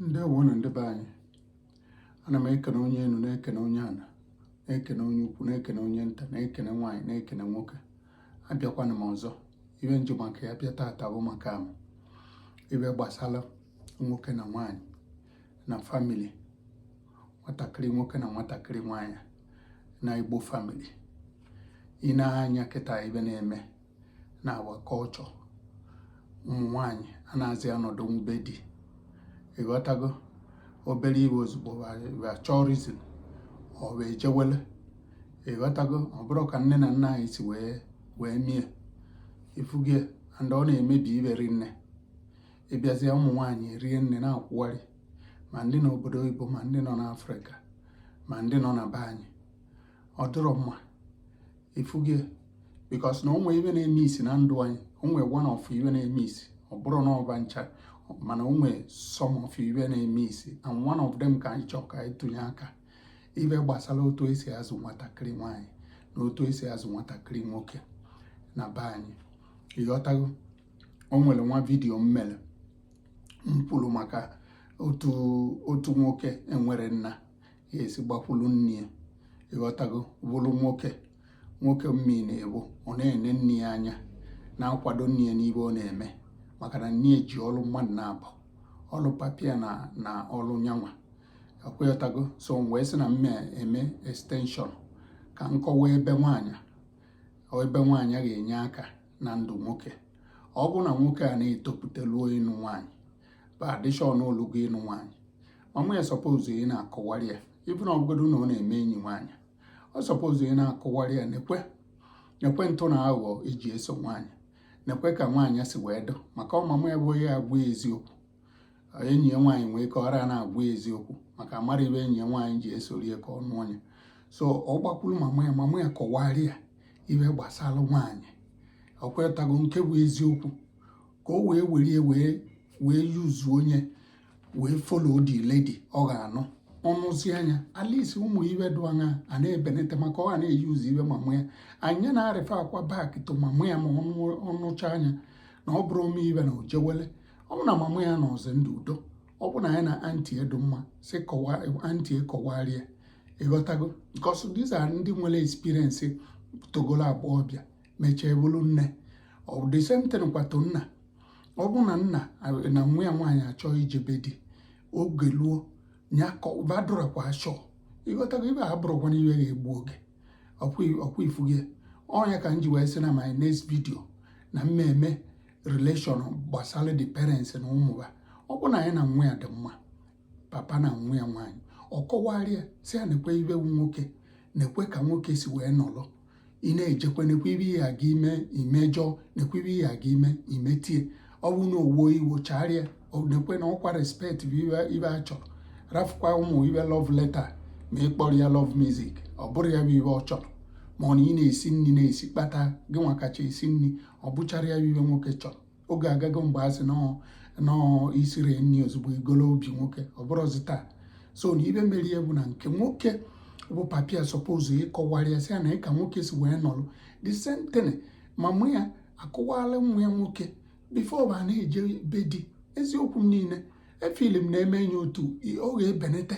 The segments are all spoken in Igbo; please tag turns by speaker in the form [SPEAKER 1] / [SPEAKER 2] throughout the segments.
[SPEAKER 1] ndewonu ndị be anyị ana m ekene onye enu na-ekene onye ana na-ekene onye ukwu na-ekene onye nta na-ekene nwaanyị na-ekene nwoke abịakwana m ọzọ ibe m ji maka ya bịa taata bụ maka m ibe gbasara nwoke na nwaanyị na family nwatakịrị nwoke na nwatakịrị nwaanyị na igbo family i nee anya kịta ibe na-eme na our culture ụmụ nwanyị anazị anọdụ n'be di ịghọtago obere iwe ozugbo chọọ reason ọ wee jewele ịghọtago ọ bụrọ ka nne na nna anyị si wee wee mie ịfụgo ya and ọ na-emebi ibe rinne ịbịazie ụmụ nwaanyị rinne na-akwụgharị ma ndị nọ obodo oyibo ma ndị nọ n'afrịka ma ndị nọ na be anyị ọ dịrọ mma ịfụgo because na o nwe ibe na-emesi na ndụ anyị o nwe one of ibe na-emesi ọ bụrọ na ọ ba ncha mana o nwe some of ibe na-emesi and one of them ka anyị chọọ ka anyị tụnye aka ibe gbasara otu esi azụ nwatakịrị nwaanyị na otu esi azụ nwatakịrị nwoke na be anyị ịghọtago o nwere nwa video m mere m kwuru maka otu otu nwoke enwerọ nna ya esi gbakwulu nne ya ịghọtago bụrụ nwoke nwoke mmi na ebe ọ na-ene nne ya anya na-akwado nne ya n'ibe ọ na-eme maka na nne ya ji ọrụ mmadụ naabọ ọrụ papa ya na ọrụ nya nwa ịghọtago so m wee sị na mme eme extension ka m kọwa ebe nwaanyị ebe nwaanyị ga-enye aka na ndụ nwoke ọ bụ na nwoke a na-etopụta ruo ịnụ nwaanyị bụ adishọn o lugo ịnụ nwaanyị mama ya supposed ị na-akọwarị ya ịbụ na ọ bụgodo na ọ na-eme enyi nwaanyị ọ supposed ị na-akọwarị ya nekwe nekwe ntụ na aghụghọ eji eso nwaanyị nekwe ka nwaanyị si wee dụ maka ọ mama ya bụ onye agwa eziokwu enyi ya nwaanyị nwee ike ọra na-agwa eziokwu maka amarọ ibe enyi ya nwaanyị ji esori ya ka ọ nụọ ya so ọ gbakwuru mama ya mama ya kọwarị ya ibe gbasara nwaanyị ịghọtago nke bụ eziokwu ka o wee were ya wee wee use onye wee follow the lady ọ ga-anụ ọ nụzia nya at least ụmụ ibe dụ aṅaa na-ebenete maka ọ ga na-eyuzu ibe mamụ ya nya na-refer kwa back to mamụ ya ma ọ nụchaa nya na ọ bụrọ o mee ibe na o jewele ọ bụ na mamụ ya nọzi ndụ udo ọ bụ na ya na aunty ya dụ mma sị aunty ya kọwarịa ịghọtago because these are ndị nwere experience togolo agbọọbịa mechee bụrụ nne the same thing kwa to nna ọ bụ na nna na nwa ya nwaanyị achọ ije be di oge luo ya badụrakwa achọ ịghọtago ibe a bụrụkwana ibe ga-egbu oge ọ kwa ị fụgo ya ọ nya ka m ji wee sị na my next video na m ma-eme relation gbasara the parents na ụmụ ba ọ bụ na onye na nwa ya dị mma papa na nwa ya nwaanyị ọ kọwara ya sị ya nekwe ibe bụ nwoke nekwe ka nwoke si wee nọrọ ị na-ejekwa nekwe ibe ị ga-eme i mejọọ nekwe ibe ị ga-eme i mete ya ọ bụ na o wuo iwo chaara ya nekwe na ọ kwa respect bụ ibe a chọrọ rafụkwa ụmụ ibe love letter ma ị kpọrọ ya love music ọ bụrọ ya bụ ibe ọ chọrọ ma ọ na ị na-esi nri na-esi kpata gịnwa kacha esi nri ọ bụcharọ ya bụ ibe nwoke chọrọ oge agago mgbe a sị na ọ i siri nri ozugbo i golo obi nwoke ọ bụrọzi taa so na ibe mere ya bụ na nke nwoke bụ papa ya suppose ịkọwara ya sị ya nee ka nwoke si wee nọlụ the same thing mama ya akọwala nwa ya nwoke before ba na-eje be di eziokwu m niile film m na-eme enye otu oge ebenete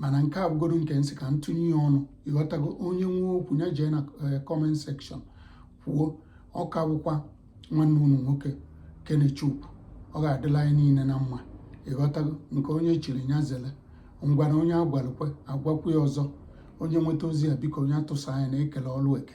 [SPEAKER 1] mana nke a bụgodu nke m sị ka m tụnye ya ọnụ ịghọtago onye nwe okwu ya jee na eh, comment section kwuo ọ ka bụkwa nwanne unu nwoke Kenechukwu ọ ga-adịla anyị niile na mma ịghọtago nke onye chiri ya zele ngwanụ onye a gwalụ kwe a gwakwuo ya ọzọ onye nweta ozi a biko onye atụsa anya na e kele ọlụ eke